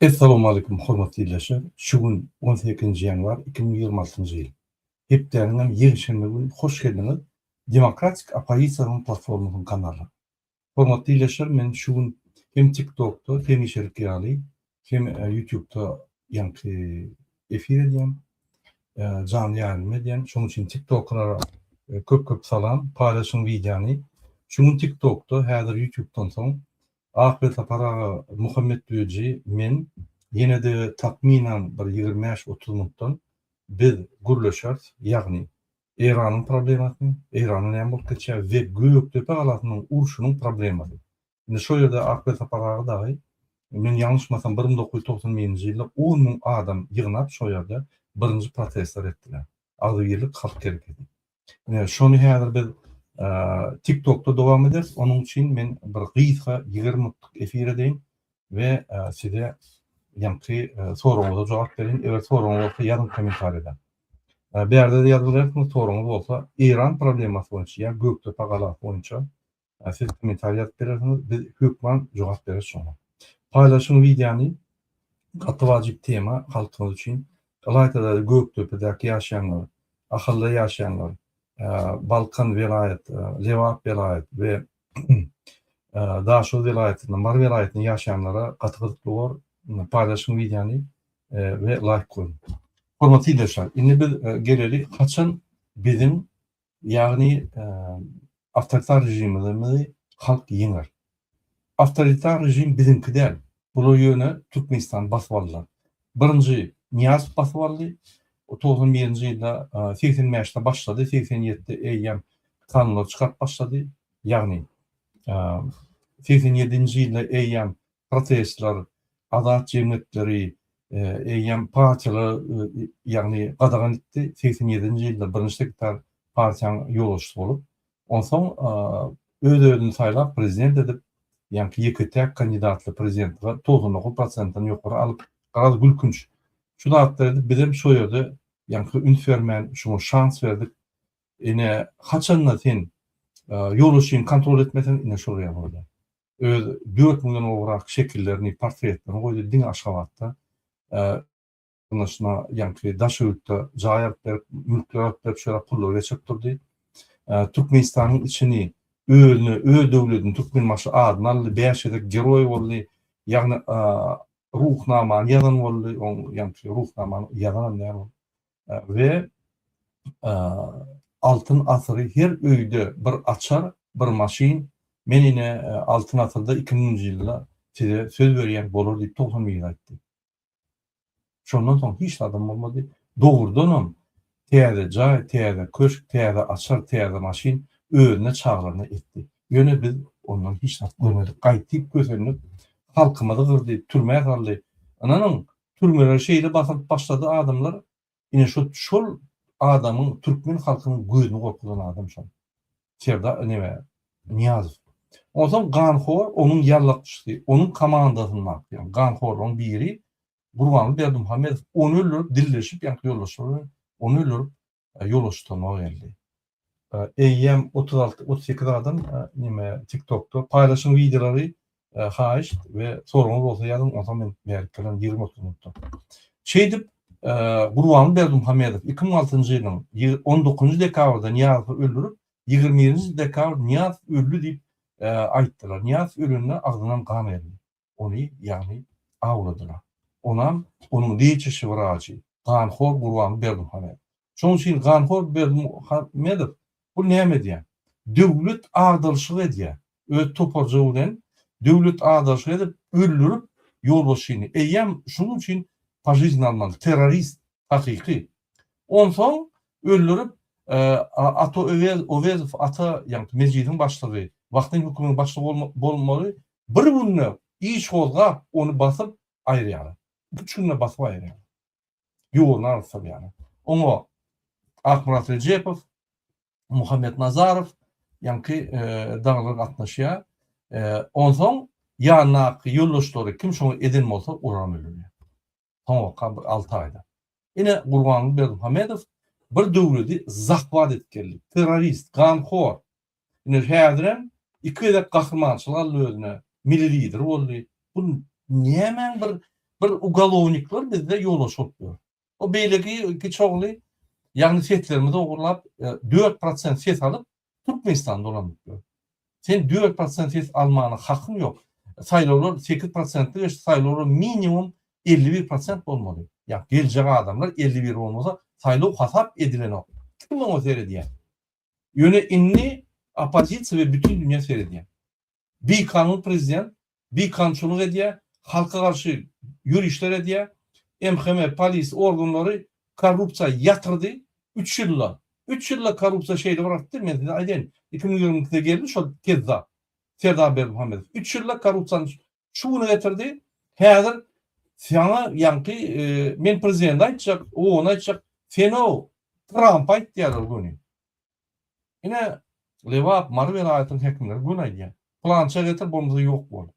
Essalamu Aleýkum hormatly ildeşler! Şu gün on sekizinji ýanwar iki müň ýigrimi altynjy ýyl. Hepdäniňem ýekşenbe güni hoş geldiňiz Demokratik oppozisiýanyň platformasynyň kanalyna. Hormatly ildeşler men şu gün hem tiktokda hemişelik ýaly hem ýutubda ýaňky efir edýän janly ýaýlym edýän şoň üçin tiktoklara köp köp salam paýlaşyň wideony şu gün tiktokda häzir ýutubdan soň Akbelsapar aga Muhammet Döji men ýenede takmynan bir ýigrimi bäş otuz minutdan biz gürleşeris ýagny Eýranyň problemasyny, Eýranda näme bolup geçýär we Gökdepe galasynyň urşunyň problemasy. Indi şo ýerde Akber Sapar aga dagy, men ýalňyşmasam bir müň dokuz ýüz togsan birinji ýylda on müň adam ýygnap şo ýerde birinji protestler etdiler. Agzybirlik halk hereketi. Ine şony häzir biz TikTokda dowam ederis, onuň üçin men bir gysga ýigrimi minutlyk efir edeýin. we size ýaňky soragyňyza jogap berýin. Eger soragyňyz bolsa ýazyň kommentariýada. Bu ýerde-de ýazyp bilersiňiz, soragyňyz bolsa Eýran problemasy boýunça ýa Gökdepe galasy boýunça siz kommentariýa ýazyp bilersiňiz, biz hökman jogap bereris şoňa. Paýlaşyň wideony, gaty wajyp tema halkyňyz üçin. Ylaýta-da Gökdepedäki ýaşaýanlar, Ahalda ýaşaýanlar, Balkan welaýat, Lebap welaýat we Daşoguz welaýatynda Mary welaýatynda ýaşaýanlara gaty gyzykly bor. Paýlaşyň wideony we laýk goýuň. Hormatly ildeşler, indi biz geleli haçan biziň ýagny awtoritar režimimizi halk ýeňer. Awtoritar režim biziňki däl, bular ýöne Türkmenistany basyp aldylar. Birinji Nyýazow basyp aldy. O togsan birinji ýylda, segsen bäşde başlady, segsen ýedide eýýäm kanunlar çykaryp başlady. Ýagny, segsen ýedinji ýylda eýýäm protestler, azat jemgyýetleri, eýýäm partiýalar, ýagny gadagan etdi. Segsen ýedinji ýylda birinji sekretar partiýanyň ýolbaşçysy bolup, Onsoň öz-özüni saýlap prezident edip, ýaňky ýeke-täk kandidatly prezidentlige togsan dokuz prosentden ýokary alyp, garaz gülkünç, şu zatlar edip bizem şo ýerde ýaňky üns bermän şuňa şans berdik. Ine, haçan-da sen ýolbaşçyňy kontrol etmeseň, ine şol ýaly bolýar. Öz dört müňden gowrak şekillerini, portretlerini goýdy diňe Aşgabatda. ýakynlaşyna ýaňky daş öwütde jaý alyp berip, mülkler alyp berip, şeýle pullary geçirip durdy. Türkmenistanyň içini özüne, öz döwledini Türkmenbaşy adyny aldy, bäş gezek geroý boldy. Ýagny Ruhnamany ýazan boldy, oň ýaňky Ruhnamany ýazanam däl ol. We Altyn asyry her öýde bir açar, bir maşyn, men ine Altyn asyrda iki müňünji ýylda size söz berýän bolar diýip togsan miri aýtdy. Şondan soň hiç zadam bolmady. Dogrudanam, täze jaý, täze köşk, täze açar, täze maşyn özüne çagyryny etdi. Ýöne biz ondan hiç zat görmedik. Gaýtyp kösendik. Halkymyzy gyrdy, türmä saldy. Ynanyň, türmeleri şeýle basylyp başlady adamlar, Ine şo şol adamyň türkmen halkynyň gözüni gorkuzan adam şol. Serdar neme Niýazow. Onsoň ganhor onuň ýallakçysy, onuň komandasynda ýa ganhorlaryň biri Gurbanguly Berdimuhamedow ony öldürip dilleşip ýaňky ýoldaşlary bilen ony öldürip ýolbaşçy toma geldi. Eýýäm otuz alty, otuz sekiz adam neme tiktokda paýlaşyň wideolary haýyşt we soragyňyz bolsa ýazyň onsoň men bärik gelen ýigrimi otuz minutda. Şeýdip Gurbanguly Berdimuhamedow iki müň altynjy ýylyň on dokuzynjy dekabrda Nyýazowy öldürip ýigrimi birinji dekabr Nyýazow öldi diýip aýtdylar. Nyýazow ölende agzyndan gan geldi. ony, ýagny awladylar. Onam onuň liçişi wraçy, ganhor Gurban Berdimuhamedow. Şonuň üçin ganhor Berdimuhamedow bu näme edýär? Döwlet agdaryşyk edýär. Öz toparjygy bilen döwlet agdaryşyk edip, öldürip ýolbaşçyny. Eýýäm şunuň üçin požiznýe almaly. Terrorist hakyky. Onsoň öldürip, Ata Öwezow, Ata, ýagny mejlisiň başlygy, wagtlaýyn hökümetiň başlygy bolmaly, Bir günde iş gozgap, ony basyp aýyrýarlar. Iki-üç günde basyp aýyrýarlar. Ýoluny alyp salýarlar. Oňa Akmyrat Rejepow, Muhammet Nazarow ýaňky dagylar gatnaşýar. Onsoň ýanyndaky ýoldaşlary kim şoňa eden bolsa, olaram öldürýär. soňurka bir alty aýda. Ine, Gurbanguly Berdimuhamedow bir döwleti zahwat edip geldi. Terrorist, ganhor. Ine, häzirem iki gezek gahrymançylyk aldy özüne, milli lider boldy. Bu nämäň bir bir ugalownikler bizde ýolbaşçy bolup ýör. O beýleki iki çogly, ýagny seslerimizi ogurlap, dört prosent ses alyp, Türkmenistan dolanyp ýör. Sen dört prosent ses almana hakyň ýok. Saýlawlar sekiz prosentde geçdi, saýlawlar minimum elli bir prosent bolmaly. Ýa geljek adamlar elli bir bolmasa saýlaw hasap edilenok. Kim oňa seredýär? Ýöne indi oppozisiýa we bütin dünýä seredýär. Bikanun prezident, bikanunçylyk edýär, halka garşy ýörişler edýär, MHM, polis organlary korrupsiýa ýatyrdy üç ýylda. Üç ýylda korrupsiýa şeýle bir artdy, men size aýdaýyn, iki müň ýigrimi ikide geldi şol kezzap Serdar Berdimuhamedow. Üç ýylda korrupsiýany şu güne getirdi. Häzir saňa ýaňky men prezidenti aýtjak, ony aýtjak, seni-ow Trampy aýt diýýärler göni. Ine, Lebap, Mary welaýatynyň häkimleri göni aýdýar. Pylança getir, bolmasa ýok bol.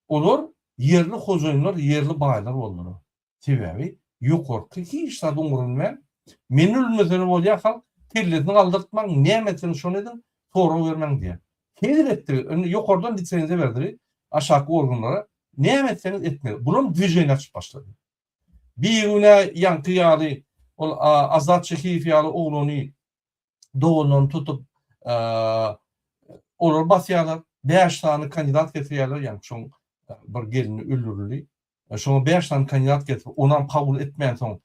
Olar ýerli hojaýynlar, ýerli baýlar boldular. Sebäbi ýokarky hiç zady umrunmän, Men ölmesem-de bolýar, halk kellesini galdyrtmaň, näme etseňiz şony ediň, sorag bermäň diýýär. Hezil etdi, indi ýokardan lisenziýa berdi aşaky organlara, näme etseňiz etmeli. Bulam dwижение açyp başlady. Bigünä ýaňky ýaly ol Azat Şehiýew ýaly oglany, doganlaryny tutup, olary basýarlar. Bäş sany kandidat getirýärler, ýaňky şoň bir gelni öldürildi. Şoňa bäş sany kandidat getirip, onam kabul etmänsoň,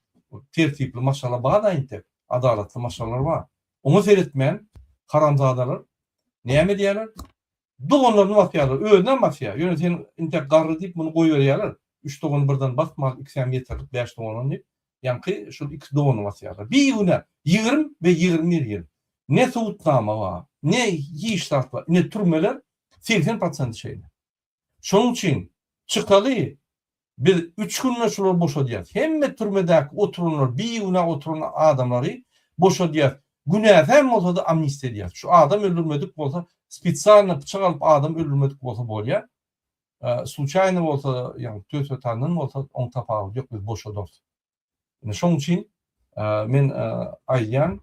tertipli maşgala bar-da entek, adalatly maşgalalar bar. Oňa seretmän, haramzadalar näme edýärler? Doganlaryny basýarlar, özünem basýar. Ýöne sen intäk garry diýip muny goýberýärler. Üç dogany birden basma, ikisem ýeterlik bäş doganan diýip, ýaňky şol iki dogany basýarlar. Bigünä, ýigrimi we ýigrimi bir ýyl. Ne subutnama bar, ne hiç zat bar. Ine türmeler segsen prosenti şeýle. Şonuň üçin çykaly, Biz üç günde şulary boşadýarys. Hemme türmedäki oturanlary, bigünä oturan adamlary boşadýarys. Günäsi hem bolsady amnistiýa edýäris. Şu adam öldürmedik bolsa, spesialno pyçak alyp adam öldürmedik bolsa bolýa. Sluçaýno bolsa, ýagny tötwetandan bolsa oň tapawudy ýok, biz boşadarys. Ine şoň üçin men aýdýan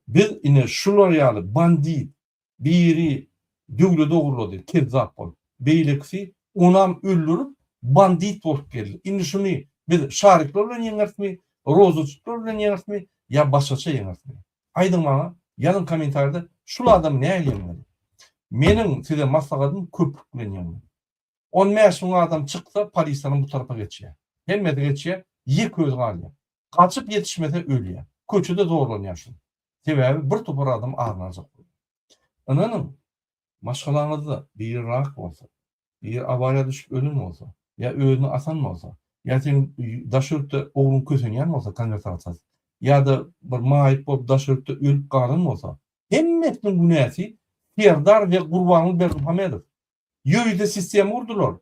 biz ine şular ýaly bandit, Biri döwle dogrulady, kezzap bolup. Beýlekisi onam öldürip, bandit bolup geldi. Indi şuny biz şarikler bilen ýeňerismi, roza tutlar bilen ýeňerismi ýa başgaça ýeňerismi? Aýdyň maňa, ýazyň kommentariýada şul adamy nähili ýeňmeli? Meniň size maslahatym köprik bilen ýeňmeli. On bäş müň adam çyksa, polislerem bu tarapa geçýär. Hemmesi geçýär, ýek özi galýar. Gaçyp ýetişmese ölýär. Köçede zorlanýar şol. Sebäbi bir topar adam aryny aljak bolýar. Ynanyň, maşgalaňyzda biri rak bolsa, biri awariýa düşüp ölen bolsa, ýa özüni asan bolsa, ýa seň daş ýurtda ogluň kösenýän bolsa, konwert arsat, ýa-da bir maýyp bolup daş ýurtda ölüp galan bolsa, hemmesiniň günäsi Serdar we Gurbanguly Berdimuhamedow. Ýörite sistema gurdular.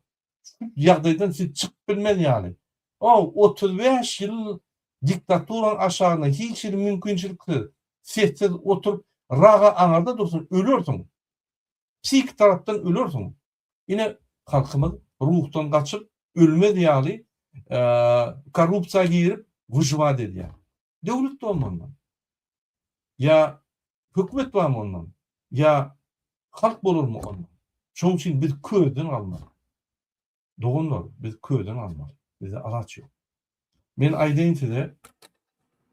Şu ýagdaýdan siz çykyp bilmez ýaly. O, otuz bäş ýyl diktaturanyň aşagynda hiç hili mümkinçiliksiz, sessiz oturyp, raga aňarda dursaň, ölersiň. Psihiki tarapdan ölersiň. Ine, halkymyz ruhdan gaçyp, ölmez ýaly, korrupsiýa girip, wyžwat edýär. Döwlet dolmandan. Ýa Hökümet barmy ondan? Ýa halk bolarmy ondan? Şonuň üçin biz közden galmaly. Doganlar, biz közden galmaly. Bizde alaç ýok. Men aýdaýyn size,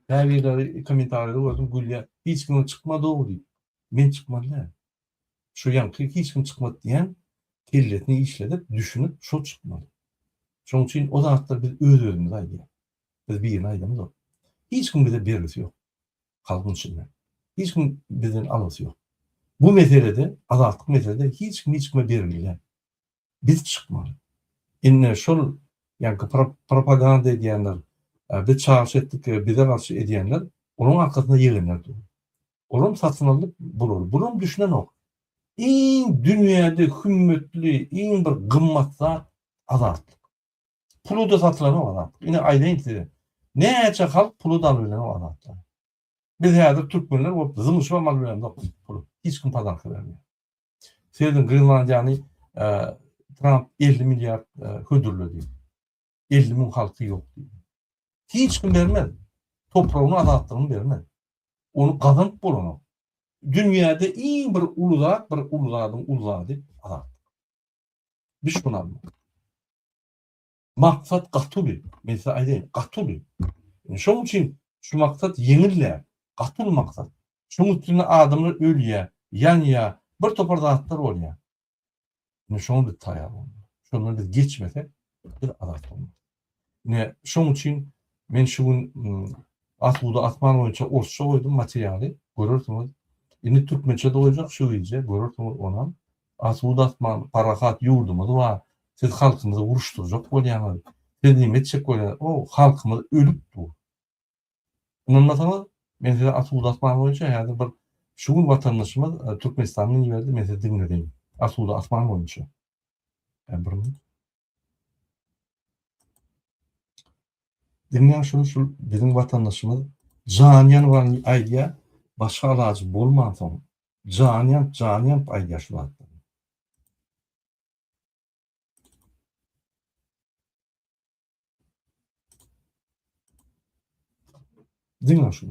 käbirleri kommentariýada gördüm, gülýär. Hiç kimiň çykmadygy diýip. Men çykmady däl. Şu ýaňky hiç kim çykmady diýen kellesini işledip, düşünip, şo çykmaly. Şonuň üçin o zatlar biz öz-özümize aýdýarys. Biz birine aýdamzok. Hiç kim bize bergisi ýok. halkyň içinde. Hiç kim bizden algysy ýok. Bu meselede, azatlyk meselede hiç kim hiç kime bergili däl. Biz çykmaly. Indi şol ýaňky propaganda edýänler, biz çagyryş etdik, bize garşy edýänler, olaryň arkasynda ýegenler dur. Olam satyn aldy bulary. Bulam düşünenok. Iň dünýäde hümmetli, iň bir gymmat zat azatlyk. Puluda satylanok azatlyk. Ine aýdaýyn size. Näçe halk puluda alyp bilenok azatlyk. Biz häzir türkmenler bolup zyňyşyp hem alyp bilenok pulu. Hiç kim pazarka bermeýär. Seýrediň Grenlandiýany Tramp 50 milliard hödürledi. 50 müň halky ýok diýdi. Hiç kim bermez. Topragyny azatlygyny bermez. Ony gazanyp bolanok. Dünýäde iň bir uly zat, bir uly zadyň uly zady azatlyk. Düşbün almak. Maksat gaty uly. Men size aýdaýyn, gaty uly. Şonuň üçin şu maksat ýeňil däl. Gaty uly maksat. Şonuň üstünde adamlar ölýär, ýanýar, bir topar zatlar bolýar. Şoňa biz taýýar bolmaly. Şondan biz geçmesek, biz azat bolmarys. Ine, şonuň üçin men şu gün Asuda asman boýunça orsça goýdum materialy, görersiňiz. Indi türkmençe-de goýjak şu gije, görersiňiz onam. Asuda asman, parahat ýurdumyz bar. Siz halkymyzy uruşdyrjak bolýaňyz. Siz näme etjek bolýaňyz? O, halkymyz ölüp dur. Ynanmasaňyz, men size Asuda asman boýunça häzir bir şu gün watandaşymyz e, Türkmenistandan iberdi, men size diňledeýin. Asuda asman boýunça. E, bir Diňe şul şul biziň watandaşymyz jan ýan wan aýdýa başga alajy bolman soň jan ýan jan ýan aýdýa şu zat. Diňe şul.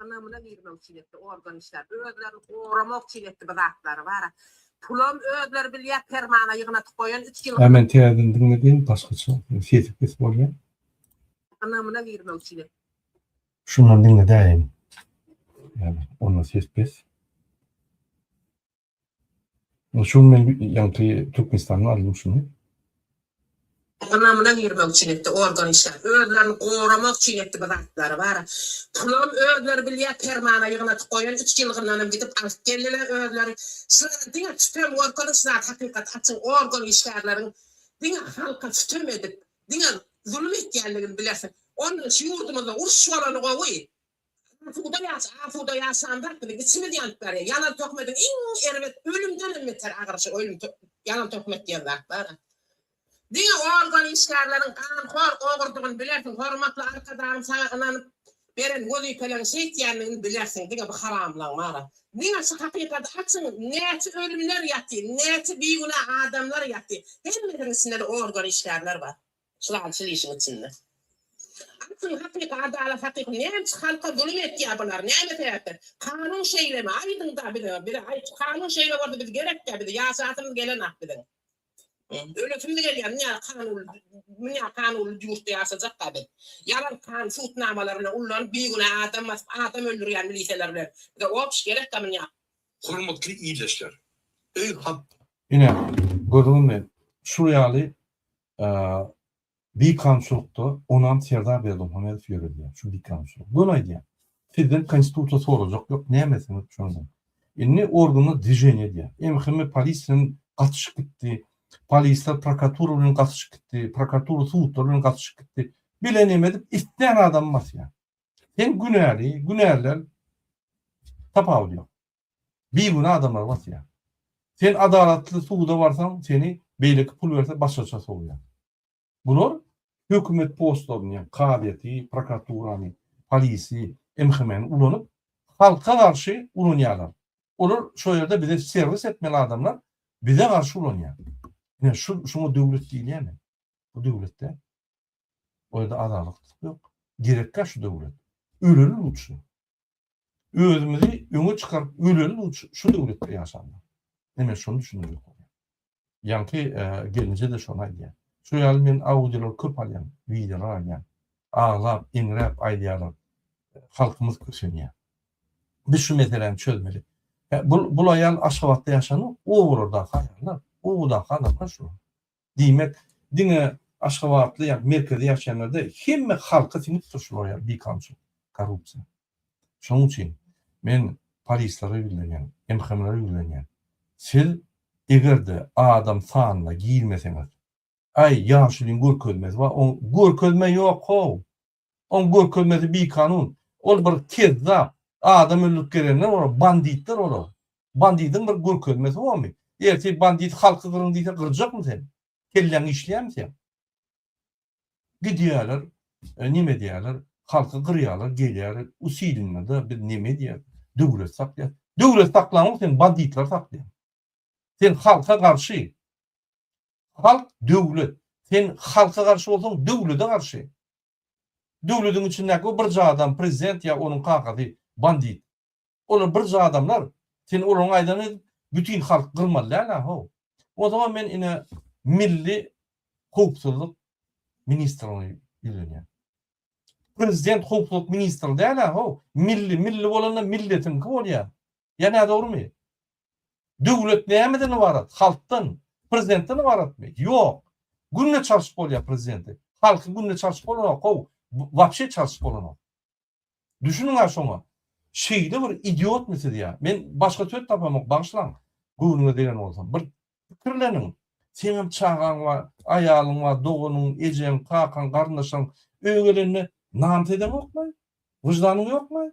Anamına girmek için etti organ işler. Özlerini korumak için etti bu zatları var. Pulam özleri bilýär permana ýygnatyp goýan 3 ýyl. Hemen täzeden diňledin başgaça. Sesi pes bolýar. Anamına girmek için etti. Şundan diňledäýin. Yani onda ses pes. Şu gün men ýaňky Türkmenistanda aldym şuny. Ynamyna girmek üçin etdi, organ işgär. Özlerini goramak üçin etdi bu zatlary, bar. Pulum özleri bilýär, permana ýygnadyp goýan, üç ýylgyndanam gidip alyp geldiler özleri. Şulara diňe sütem görkezip şu zat hakykat açyň, organ işgärleriň diňe halka sütem edip, diňe zulum etýänligini bilersiň. Ondan şu ýurdumyzda uruş bolany gowy. Asuda ýaş, asuda ýaşandyr biziň içimiz ýanyp barýar. Ýalan töhmediň iň erbet, ölümdenem beter agyryşy ölüm ýalan töhmet diýen zat bar-a. Diňe organ işgärleriň ganhor, ogurdygyny bilersiň, hormatly Arkadagym saňa ynanyp beren wezipeleriň şeýtýändigini bilersiň, diňe bu haramlaň bar-a. Diňe şu hakykady açyň, näçe ölümler ýaty, näçe bigünä adamlar ýaty, hemmesiniň içinde-de organ işgärler bar. Çylanyşyl işiň içinde. Asyl hakyky adalat hakyky näçe halka zulum etýä bular näme sebäpden kanun şeýlemi aýdyňda bize bize aýt şu kanun şeýle boldy biz gerekkä bize ýaşasymyz gelenok biziň ölesimiz gelýä münýä kanun münýä kanunly ýurtda ýaşajakka biz ýalan kan sud namalar bilen ullanyp bigünä adam basyp adam öldürýän miliseler bilen bize obş gerekkä münýä Hormatly ildeşler! Öý hat. Ine, gördüňizmi? Şul ýaly bikanunçylykda onam Serdar Berdimuhamedow ýöredýär şu bikanunçylygy. Göni aýdýan. Sizden konstitusiýa sorajak ýok, nämesiňiz şondan. Indi organlar dwiženiýa edýär. MHM polis bilen gatyşyp gitdi. Polisler prokuratura bilen gatyşyp gitdi. Prokuratura sudlar bilen gatyşyp gitdi. Bile neme edip islän adamy basýar. Sen günäli, günäliler tapawudy ýok. bigünä adamlary basýar. Sen adalatly suda barsaň, seni beýleki pul berse başgaça sowýar. Bular hökümet postlaryny, ýagny kazyýeti, prokuraturany, polisi, MHM-ni ulanyp, halka garşy ulanýarlar. Olar şo ýerde bize serwis etmeli adamlar bize garşy ulanýar. Ine şu şuňa döwlet diýilýärmi? Bu döwletde o ýerde adalatlyk ýok. Gerekkä şu döwlet? Ölelim üçin. özümizi öňe çykaryp öleli bu şu döwletde ýaşanlar. Näme şonu düşünmek ýok. Ýaňky e, gelinje de şonu aýdýar. Şu ýaly men audiolar köp alýan, wideolar alýan. Aglap, iňräp aýdýarlar. Halkymyz kösenýär. Biz şu meseläni çözmeli. Bu bu aýal Aşgabatda ýaşan, o burada haýanlar, o burada haýanlar şu. Diýmek, diňe aşgabatly ýa merkezde ýaşaýanlar däl, hemme halka siňip dur şul oýa bikançylyk, korrupsiýa. Şonuň üçin men polislere ýüzlenýän, MHM-lere ýüzlenýän. Siz eger-de adam sanyna girmeseňiz, aý ýaşulyň görkezmesi bar, oň görkezme ýok-how! Oň görkezmesi bikanun. Ol bir kezzap. Adam öldürip gelenler olar, banditler olar. Bandidiň bir görkezmesi bormy? Ertir bandit halky gyryň diýse gyrjakmy sen? Kelläň işleýärmi seň? Gidýärler, neme edýärler, halky gyrýarlar, gelýärler, usilnada biz neme edýäs, döwlet saklaýas. Döwlet saklaňok sen, banditler saklaýar. Sen halka garşy. Halk döwlet. Sen halka garşy bolsaň döwlede garşy. Döwlediň içindäki o birje adam prezident ýa onuň kakasy bandit. Olar birje adamlar. Sen olaryň aýdanyny edip bütin halky gyrmaly däl a how. O zaman men ine milli howpsuzlyk ministrine ýüzlenýän. Prezident howpsuzlyk ministri däl a how. Milli milli bolanda milletiňki bolýa. Ýa nädogrymy. Döwlet nämeden ybarat? Halkdan. Prezidentden ybaratmy? Ýok. Günde çalşyp bolýar prezidenti. Halky günde çalşyp bolanok how, wapşe çalşyp bolanok. Düşüniň-ä şoňa. Şeýle bir idiotmy siz ýa? Men başga söz tapamok, bagyşlaň. Göwnüňe degen bolsam. Bir Pikirleniň, seňem çagaň bar, aýalyň bar, doganyň, ejeň, kakaň, garyndaşlaryň öýe gelende namys edeňokmy? Wyždanyň ýokmy?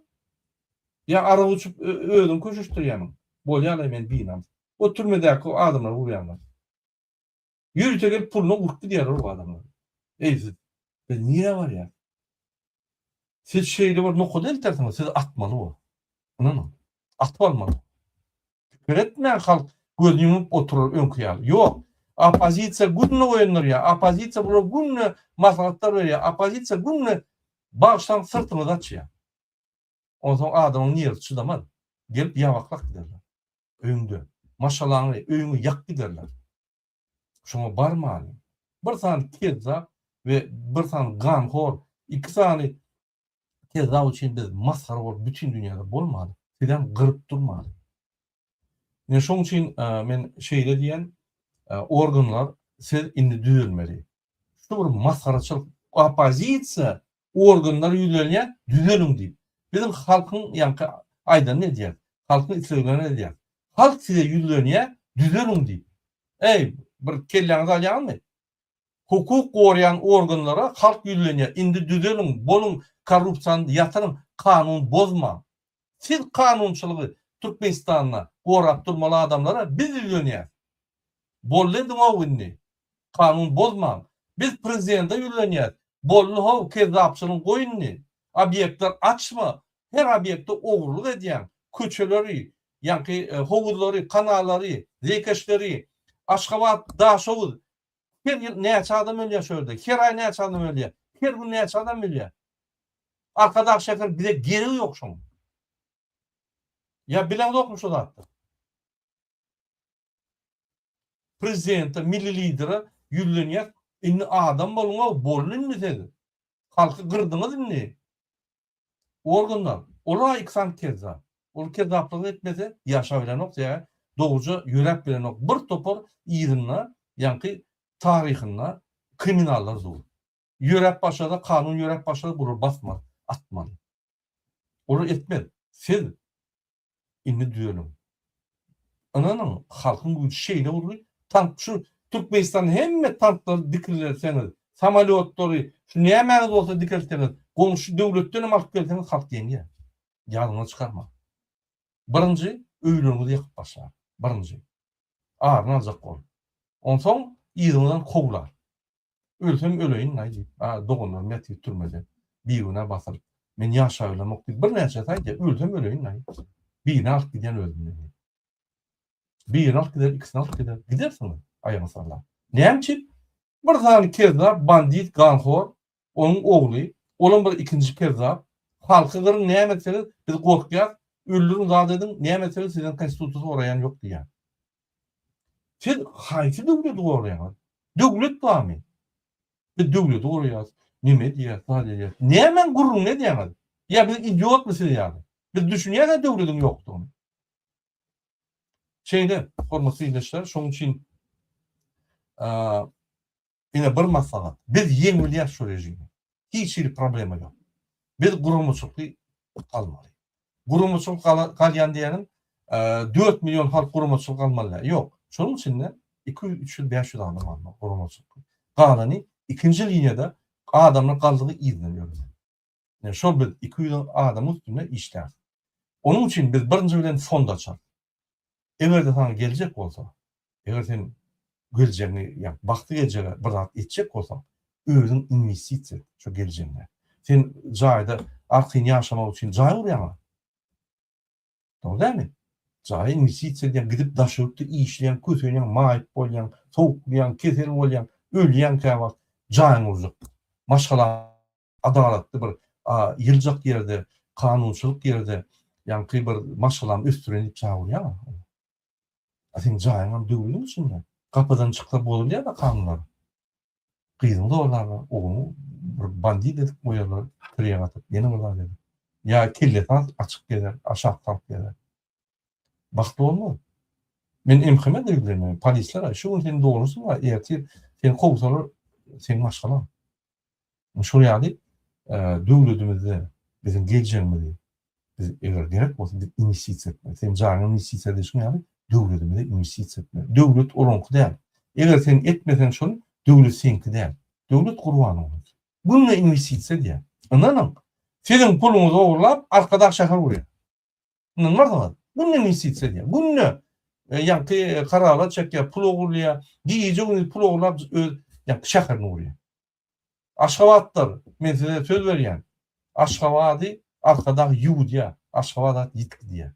Ýa arak içip özüňi köşeşdirýämiň? Bolýa-laý men binamys. O türmedäki adamlary urýarlar. Ýörite gelip puluna urup gidýärler o adamlary. Eý siz, biz nirä barýarys? Siz şeýle bir nokada eltersiňiz, siz atmaly bol. Ynanyň. Atyp almaly. Pikir etmän halk gözüni ýumup oturar öňki ýaly. Ýok. Oppozisiýa günde oýandyrýar. Oppozisiýa bular günde maslahatlar berýär. Oppozisiýa günde bagşylaň syrtyňyzy açýar. Onsoň adamyň nerwi çydamaz. Gelip ýabaklap giderler. Öýüňde. Maşgalaňy, öýüňi ýakyp giderler. Şoňa barmany. Bir sany kezzap we bir sany ganhor, iki sany kezzap üçin biz masgara bolup bütin dünýäde bolmaly. Sizem gyryp durmaly. Ine şoň üçin men şeýle diýen organlar siz indi düzelmeli. Şu bir masgaraçylyk opozisiýa organlar ýüzlenýä düzeliň diýip. Biziň halkyň ýaňky aýdanyny edýäs. Halkyň isleglerini edýäs. Halk size ýüzlenýä düzeliň diýip. Eý, bir kelläňizi alýaňyzmy? Hukuk goraýan organlara halk ýüzlenýä indi düzeliň, boluň korrupsiýany ýatyryň, kanun bozmaň. Siz kanunçylygy Türkmenistanda gorap durmaly adamlara biz ýüzlenýäs. Bolly ediňow indi. Kanun bozmaň. Biz prezidente ýüzlenýäs. Bolly how kezzapçylygy goý indi. Obýektler açma. Her obýekte ogurlyk edýäň. Köçeleri, ýaňky howuzlary, kanallary, zeýkeşleri, Aşgabat, Daşoguz, Her ýyl näçe adam ölýär şu ýerde? Her aý näçe adam ölýär? Her gün näçe adam ölýär? Arkadag şäher bize geregi ýok şoň. Ýa bileňzokmy şu zatda? Prezidente, milli lidere ýüzlenýär. Indi adam boluň-ow, boldy indi siz. Halky gyrdyňyz indi. Organlar, ol-a iki sany kezzap. Ol kezzaplygyny etmese, ýaşabilenok, sebäbi dogruja ýöräp bilenok. Bir topar yzynda, ýaňky taryhynda kriminallar dur. Ýöräp başlasa, kanun ýöräp başlasa, bular basmaz, atmaz. Olar etmez. Siz Indi düzeliň. Ynanyň, halkyň güýji şeýle boldy, tank şu Türkmenistanda hemme tanklary dikilrerseňiz, samolýotlary, şu nämäňiz bolsa dikeltseňiz, goňşy döwletdenem alyp gelseňiz halk ýeňýär. Ýadyňyza çykarmaň. Birinji öýleriňizi ýakyp başlar. Birinji. Aryny aljak bol. Onsoň yzyňyzdan kowlar. Ölsem öleýin-laý diýip, a doganlarym ýatyr türmede, bigünä basylyp. Men ýaşaýlamok diýip, birnäçesi aýdýar, ölsem öleýin-laý. Birini alyp gidýän özümden diýip. Birini alyp gider, ikisini alyp gider. Gidersiň, aýagyny sallap. Näme üçin? Bir sany kezzap, bandit, ganhor, onuň ogly, olam bir ikinji kezzap. Halky gyryň, näme etseňiz, biz gorkýas, öldüriň, zat ediň, näme etseňiz sizden konstitusiýa soraýan ýok diýýär. Siz haýsy döwleti goraýaňyz? Döwlet barmy? Biz döwleti goraýas, neme edýäs, zat edýäs. Nämäň gürrüňini edýäňiz? Ýa biz idiotmy siz ýaly? Biz düşünýäs-ä döwletiň ýokdugyny. Şeýle, hormatly ildeşler, şonuň üçin Ine bir maslahat. Biz ýeň bilýäs şu režimi. Hiç hili problema ýok. Biz guramaçylky galmaly. Guramaçylyk galýan diýeniň dört million halk guramaçylyk galmaly däl. Ýok. Şonuň içinde iki ýüz, üç ýüz, bäş ýüz adam galmaly guramaçylykly. Galany ikinji liniýada adamlar galdygy yzdan ýörmeli. Ine, şol biz iki ýüz adamyň üstünde işlärys. Onuň üçin biz birinji bilen fond açarys. Eger-de saňa geljek bolsa, eger sen geljegiňi, ýagny bagtly geljege bir zat etjek bolsaň, özüň inwestisiýa et şo geljegiňe. Sen jaýda arkaýyn ýaşamak üçin jaý gurýaňmy? Dogry dälmi? Jaýa inwestisiýa edýäň, gidip daş ýurtda işleýäň, kösenýäň, maýyp bolýaň, sowuklanýaň, kesel bolýaň, ölýäň käwagt, jaýyňy gurjak. Maşgalaň adalatly bir ýyljak ýerde, kanunçylyk ýerde ýaňky bir maşgalany ösdüren diýip çagyrýaňa. A seň jaýyňam döwlügiň içinde. Gapydan çyksa bozulýa-da kanunlar. Gyzyňy zorlarlar, ogluňy bir bandit edip goýarlar, tireýe gatyp, ýene bir zat edip. Ýa kellesi açyk gezer, aşak salyp gezer. Bagt bolmaz. Men MHM-e-de ýüzlenmerin. Polislere, şu gün seniň dolusyň bar, ertir seni kowsalar, seň maşgalaň. Şol ýaly döwledimizde biziň geljegimizi biz eger gerek bolsa biz inwestisiýa etmeli. Sen janyňy inwestisiýa edişiň ýaly döwledimize inwestisiýa etmeli. Döwlet olaňky däl. Eger sen etmeseň şony, döwlet seňki däl. Döwlet gurban oňa. Günde inwestisiýa edýär. Ynanyň, siziň puluňyzy ogurlap, Arkadag şäher gurýar. Mundan bardyňyz. Günde investisiýa edýär. Günde ýaňky karalat çekýär, pul ogurlaýar. Gije-gündiz pul ogurlap öz ýaňky şäherini gurýar. Aşgabatlar, men size söz berýän, Aşgabady Arkadag ýuwudýar, Aşgabat at ýitip gidýär.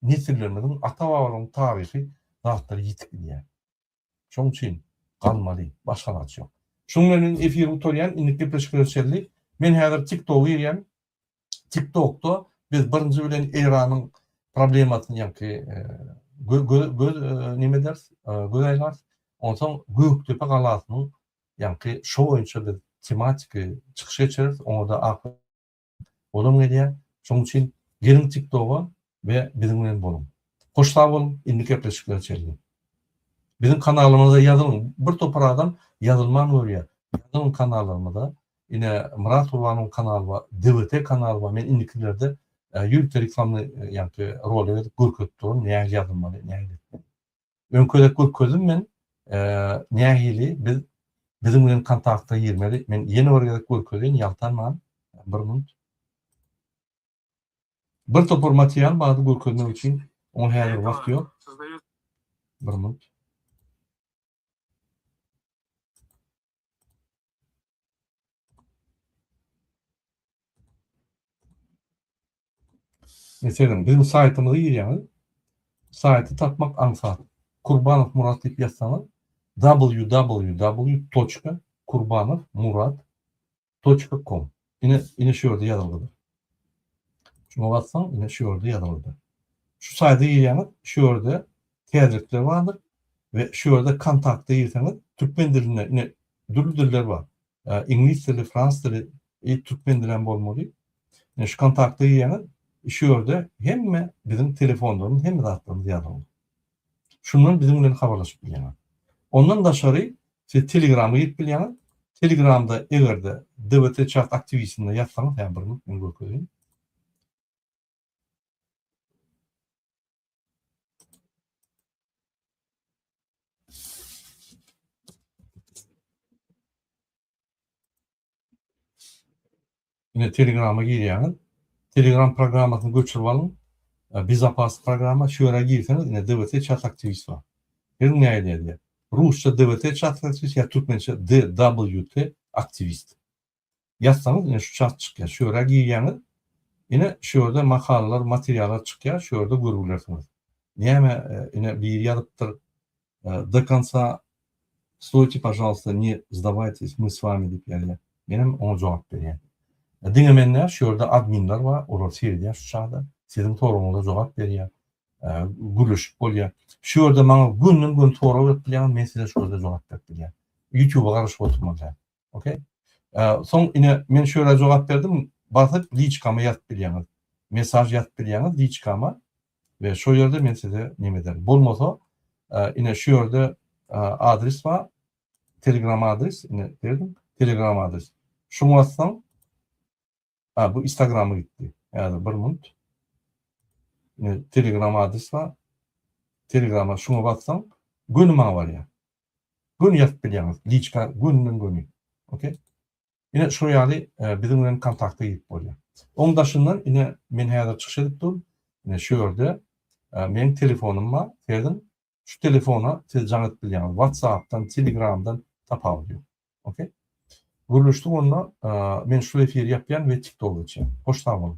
Nesillerimiziň, ata-babalaryň taryhy zatlary ýitip gidýär. Şoň üçin galmaly, başga alaç ýok. Şuň bilen men efiri gutarýan, indik gepleşik görüşeli. Men häzir TikToga girýän. TikTokda biz birinji bilen Eýranyň problemasyny ýaňky göz neme ederis, göz aýlarys. Onsoň Gökdepe galasynyň ýaňky şo boýunça biz tematiki çykyş geçireris. Oňa-da ak Olam gelýär. Şoň üçin geliň tiktoga we biziň bilen boluň. Hoş sag boluň, indi gepleşiklere çenli. Biziň kanalymyza ýazylyň. Bir topar adam ýazylman görýär. Ýazylyň kanallarymyza. Ine Myrat Gurbanowyň kanaly bar, DWT kanaly bar. Men indikilerde ýörite reklamny ýagty rolik edip görkezip duraryn nähili ýazylmaly, nähili etmeli. Öňküde görkezdim men nähili biz biziň bilen kontakta girmeli. Men ýene bir gezek görkezýän ýaltanman bir minut. Bir topar material bardy görkezmek üçin. Oňa häzir wagt ýok. Bir minut. Meselem, biziň saýtymyza girýäňiz. Saýty tapmak aňsat. Kurbanow Murat diýip ýazsaňyz, www.kurbanowmurat Toçka kom. Ine, ine şu ýerde ýazylgydyr. Şuňa bassaň, ine şu ýerde ýazylgydyr. Şu saýda girýäňiz, şu ýerde täzelikler bardyr we şu ýerde kontakta girseňiz, türkmen dilinde, ine dürli diller bar. Iňlis dili, fransuz dili, e, türkmen dili hem bolmaly. Ine şu kontakta girýäňiz, şu ýerde hemme biziň telefonlarymyz, hemme zatlarymyz ýazylgy. Şundan biziň bilen habarlaşyp bilýäňiz. Ondan daşary siz Telegrama girip bilýäňiz. Telegramda eger-de DBT Chat aktiwistinde ýazsaňyz, hä bir minut men görkezeýin. Ine Telegrama girýäňiz. Telegram programmasyny göçürip alyň. Bezapas programma. Şu ýere girseňiz ine DVT Çat Aktiwist bar. Geliň nähili ýazýar. Rusça DVT Çat Aktiwist ýa türkmençe DWT Aktiwist. Ýazsaňyz ine şu çat çykýar. Şu ýere girýäňiz. Ine şu ýerde makalalar, materiallar çykýar. Şu ýerde görüp bilersiňiz. Näme ine biri ýazypdyr. do konca stoýte, pažalsta, ne zdawaytes, my s wami diýip ýazýar. Menem oňa jogap berýän. Diňe men däl, şu ýerde adminler bar, olar seredýär şu çagda, siziň soragyňyza jogap berýär, gürleşip bolýar. Şu ýerde maňa gönden-göni sorag berip bilýäňiz, men size şu ýerde jogap berip bilýän. Ýutube garaşyp oturmaly däl. Okey. Soň ine men şöyle jogap berdim. Basyp liçkama ýazyp bilýäňiz. Mesaj ýazyp bilýäňiz liçkama we şo ýerde men size neme ederin. Bolmasa ine şu ýerde adres bar. Telegram adres ine berdim. Telegram adres. Şuňa bassaň Ha bu istagrama gitdi. Häzir bir munt. Ine telegram adres bar. Telegrama şuňa bassaň göni maňa barýar. Göni ýazyp bilýäňiz. Liçka göninden göni. Okey. Ine şu ýaly e, biziň bilen kontakta girip bolýar. Oň daşyndan ine men häzir çykyş edip durm. Ine şu ýerde e, meniň telefonym bar. Sezin Şu telefona siz jaň edip bilýäňiz. WhatsApp-dan, Telegram-dan tapawudy ýok. Ok. Gürleşdik onda. Men şul efiri ýapýan we TikTok geçýän. Hoş sag boluň.